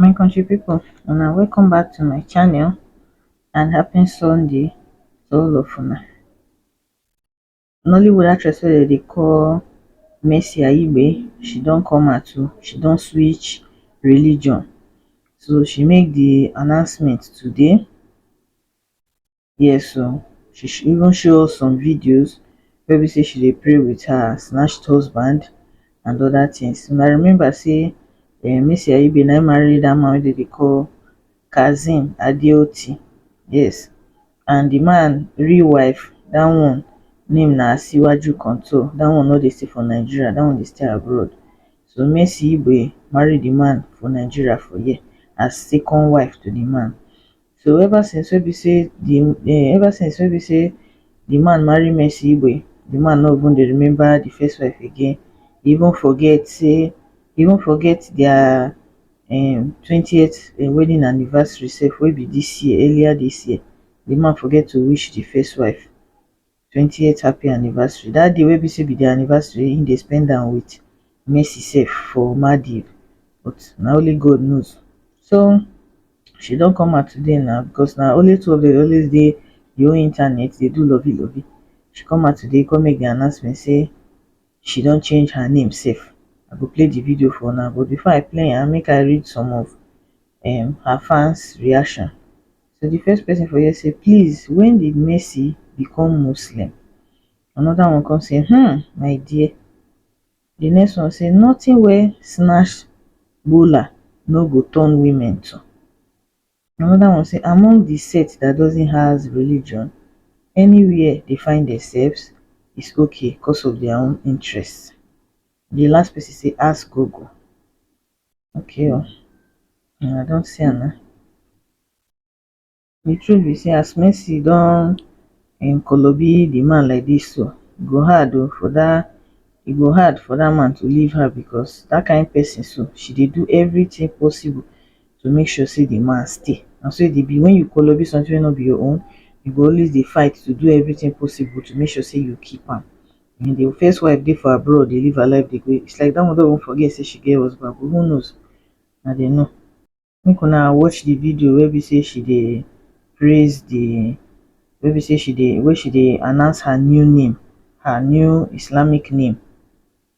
my country people una welcome back to my channel and happy sunday to all of una nollywood actress wey dem dey call mercy aigbe she don come out too she don switch religion so she make the announcement today Yes, so she sh- even show us some videos where we say she dey pray with her snatched husband and other things. And I remember say uh, Missy Aibe na marry that man wey dey call Kazim Adeoti. Yes. And the man real wife, that one name na Asiwaju Control. That one no dey stay for Nigeria, that one dey stay abroad. So Messi Igbe marry the man for Nigeria for here as second wife to the man. So ever since wey be say the um ever since wey be say the man marry Mercy Igwe, the man no even dey remember the first wife again. He even forget say he even forget their um twentieth um wedding anniversary sef wey be this year earlier this year. The man forget to wish the first wife. twenty eight happy anniversary dat day wey be say be dia anniversary he dey spend am with Messi sef for Maldives but na only God knows so she don come out today na because na only two of dem dey always dey the whole internet dey do lovey lovey she come out today come make the announcement say she don change her name sef I go play the video for una but before I play am make I read some of um her fans reaction So di first person for here say please when did Messi become Muslim? Another one come say hmm my dear. Di next one say nothing wey snatch bowler no go turn women to. Another one say among di set that doesn't has religion anywhere they find themselves is okay cos of their own interest. Di last person say ask Google. Okay o, una don see am na, di truth be sey as Mercy don um kolobi di man like dis so, e go hard o for dat, e go hard for dat man to leave her becos dat kind pesin so, she dey do everytin possible to make sure sey di man stay. Na so e dey be, wen you kolobi sometin wey no be your own, you go always dey fight to do everytin possible to make sure sey you keep am. When the first wife dey for abroad dey live her life dey go it's like that one don even forget say she get husband but who knows na dem know. Make una watch the video wey be say she dey praise the wey be say she dey wey she dey announce her new name her new Islamic name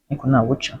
make una watch am.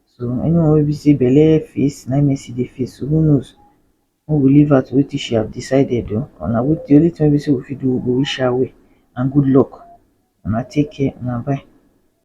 so anyone wey be say belle face na him Mercy dey face so who knows make we leave her to wetin she have decided o or na wetin the only thing wey be say we fit do we go wish her well and good luck una take care una bye.